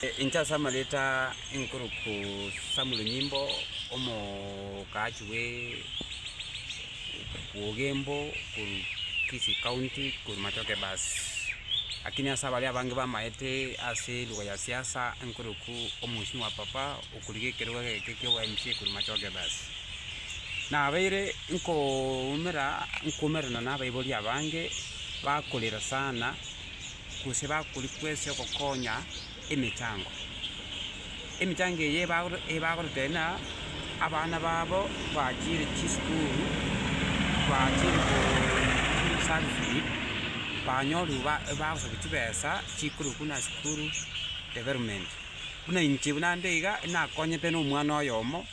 Inche ase amareta inkoroku Samuel Nyimbo, omokaachi bwe Ogembo korwa Kisii County korwa Matoke Bus. Lakini ase abaria abange bamaete ase lugha ya siasa inkoroku omosimi wa papa okorigia ekerogo egeke kia obo mca korwa Matoke Bus. Nabeire nkoumera, nkoumerana na abaibori abange bakorera sana. gose bakori kwesi ogokonya emechango. Emechango eye ebagoro ebagorotebia na abana babo bachire chisukuru bachire koo service banyorire ba bagosaria chibesa chikorwa buna asukuru development. Buna inche buna ande iga nakonyete na omwana oyomo.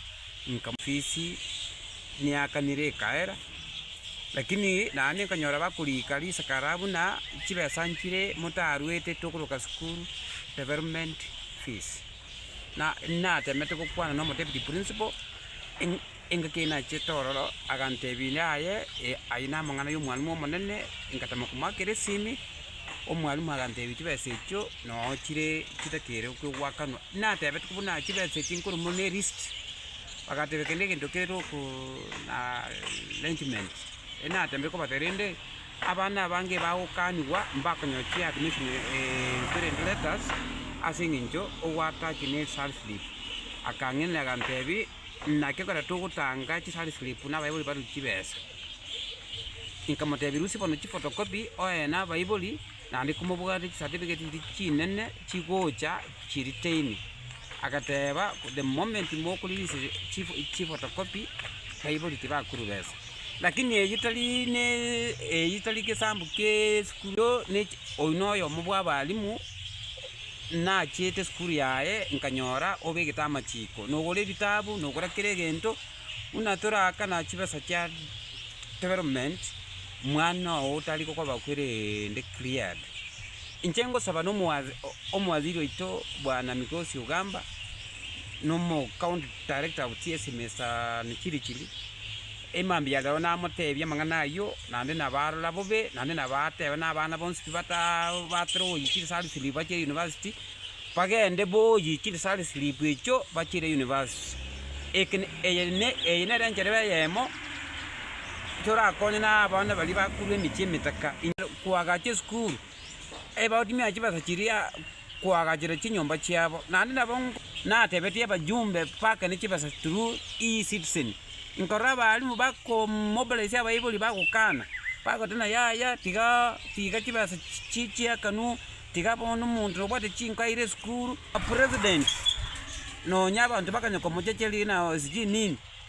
Inka fisi niakanire ekaera, lakini naende nkanyora bakoriika risakara buna chibesa nchire motaruete tokoroka school development fees. Na natemete gokwana nomo deputy principal engaki eye nachete ororo agantebia aye aye namang'ana yomwanwa omonene, ngatama komoakera esimi. Omwalimu aganteebia, Chibesa echio noo chire chitakeire goakanwa. Natebete buna na chibesa echi nkorwa mono ne list, bagatebia kende egento kere oko na arrangement. Erio natembe kobatebia rende, abana abange bagokanigwa mbakonyoa chi admission intwe rende letters, ase eng'encho ogoatach ne result slip. Akang'enera agantebi. Naki ekero togotanga chisare slip na abaibori barue chibesa, inkamotebia rusia bono chifotokopi oye na abaibori naende komobwate chisatifiketi chiria chinene chigocha chiriteini. Agateba the moment mokorelease chifotokopi abaibori tibakorwa besa. Lakini eyio tari ne eyio tari gesambu gie esukuru oino oyomo bwa abalimu. Nachiete esukuru yaye nkanyora obegete amachiko, nogora ebitabu, nogora kera egento, buna toraakana chibesa chia development, mwana oo tari gokoba kwerende cleared. Inche ngosaba n'omowaziri oito bwana Migosi Ogamba, n'omocounty director of chiesime Sir Chirichiri, Emambia yagao namoteebie amang'ana ayio, naende nabarora bobe, naende nabateba nabana bonsi tibatabwatera ogoyikiri sarislipu bachire university, bagende boyikiri sarislipu echio bachire university. Eke ne eye ne eye nere enchereba eyemo torakonye na abana baria bakorwa emechie emetaka, inyare koagacha esukuru. Ebagotimia chibesa chiria koagachera chinyomba chiabo, naende nabo natebetie abajumbe bake ne chibesa through E-citizen, nkorora abalimu bakomobiliser abaibori bagokana, bagoteba ng'a yaya tiga tiga chibesa chi chiakanwa, tiga bono omonto nobwate chinko aire esukuru, president nonya abanto bakanya komochecheria ng'a sijui nini.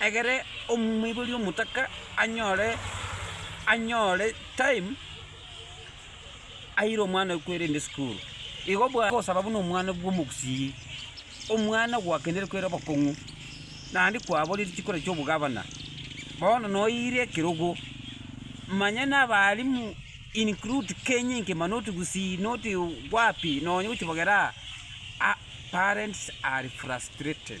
Egere omoibori omotaka anyore anyore time aire omwanowe kwerende esukuru. Igo bwa gosaba buna omwana bw'omogusii, omwana gwakenire kwere obokong'u, naende kwaborire chikura chi'obogabana, bono noire ekerogo, manya na abalimu include Kenya ngima not Gusii not wapi, nonya gochia bogera aa, parents are frustrated.